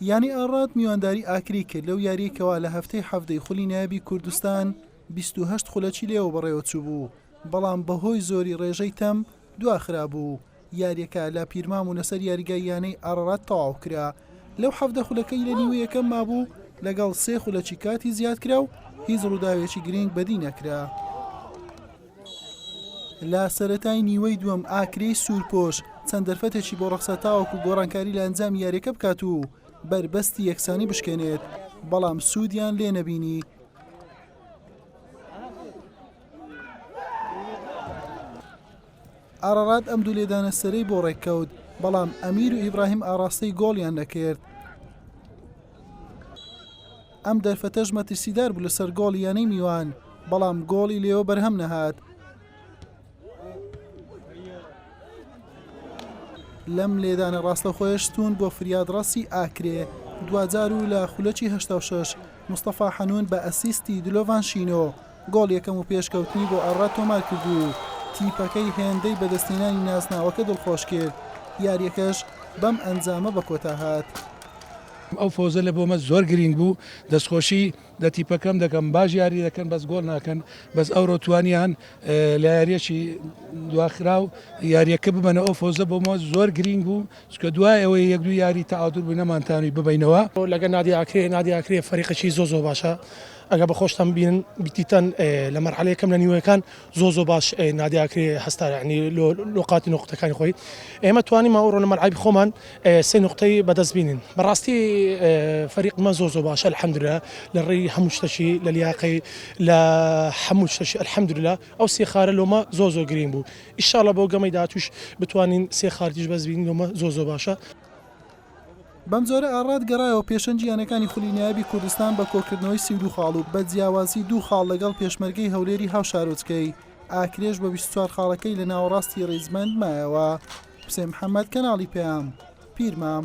یانی ئاڕات میوانداری ئاکرەی کرد لەو یاریەی کەوا لە هەفتەی حەڤدەی خولی نایابی کوردستان بیست و هەشت خولەکی لێوە بەڕێوەچووبوو بەڵام بەهۆی زۆری ڕێژەی تەم دواخرابوو و یاریەکە لە پیرمام و لەسەر یاریگای یانەی ئاڕات تەواو کرا لەو حەڤدە خولەکەی لە نیوە یەکەم مابوو لەگەڵ سێ خولەکی کاتی زیادکرا و هیچ ڕووداوێکی گرنگ بەدی نەکرا. لە سەرەتای نیوەی دووەم ئاکرێی سوورپۆش چەند دەرفەتێکی بۆ ڕەخسا تاوەکو گۆڕانکاری لە ئەنجامی یاریەکە بکات و بەربەستی یەکسانی بشکێنێت بەڵام سوودیان لێ نەبینی. ئارڕات ئەم دوو لێدانە سەرەی بۆ ڕێککەوت بەڵام ئەمیر و ئیبراهیم ئاراستەی گۆڵیان نەکرد. ئەم دەرفەتەش مەترسیدار بوو لەسەر گۆڵی یانەی میوان، بەڵام گۆڵی لێوە بەرهەم نەهات. لەم لێدانە ڕاستەخۆیە شتون بۆ فریادڕەسی ئاکرێ دواجار و لە خولەکی هەشتا و شەش مستەفا حەنون بە ئەسیستی دلۆڤان شینۆ، گۆڵ یەکەم و پێشکەوتنی بۆ ئەڕا تۆمار کرد و تیپەکەی هێندەی بەدەستهێنانی نازناوەکە دڵخۆش کرد، یارییەکەش بەم ئەنجامە بە کۆتا هات. ئەو فەوزە لە بۆمە زۆر گرینگ بوو دەستخۆشی لە تیپەکەم دەکەم باش یاری دەکەن بەس گۆڵ ناکەن بەس ئەوڕۆ توانیان لە یاریەکی دواخراو یاریەکە ببەنە ئەو فەوزە بۆمە زۆر گرینگ بوو چکە دوای ئەوەی یەک دوو یاری تەعادول بوو نەمانتانوی ببینەوە لەگە نادیاکرێ نادیاکرێ فەریقەکی زۆ زۆ باشە ئەگەر بە خۆشتان بینن بیتیتان لە مەرحەلە یەکەم لە نیوەکان زۆ زۆ باش نادیا کرێ هەستا ینی لۆ قاتی نقطەکانی خۆی ئێمە توانی ماوە ڕۆنە مەرعیب خۆمان سێ نقطەی بەدەست بینین بەڕاستی فەریقمە زۆ زۆ باشە الحەمدرە لە ڕێی هەموو شتەشی لە لیاقی لە هەموو شتەشی الحەمدرلا ئەو سێ خارە لۆمە زۆ زۆ گرین بوو ئیشاڵە بۆ گەمەی دااتوش بتوانین سێ خارتیش بەس بینین لۆمە زۆ زۆ باشە. بەمجۆرە ئاڕات گەڕایەوە پێشەن جیهانەکانی خولی نایابی کوردستان بە کۆکردنەوەی سی و دوو خاڵ و بە جیاوازی دوو خاڵ لەگەڵ پێشمەرگەی هەولێری هاوشارۆچکەی ئاکرێش بە بیست و چوار خاڵەکەی لە ناوەڕاستی ڕیزبەند مایەوە. حوسێن محەمەد، کەناڵی پەیام، پیرمام.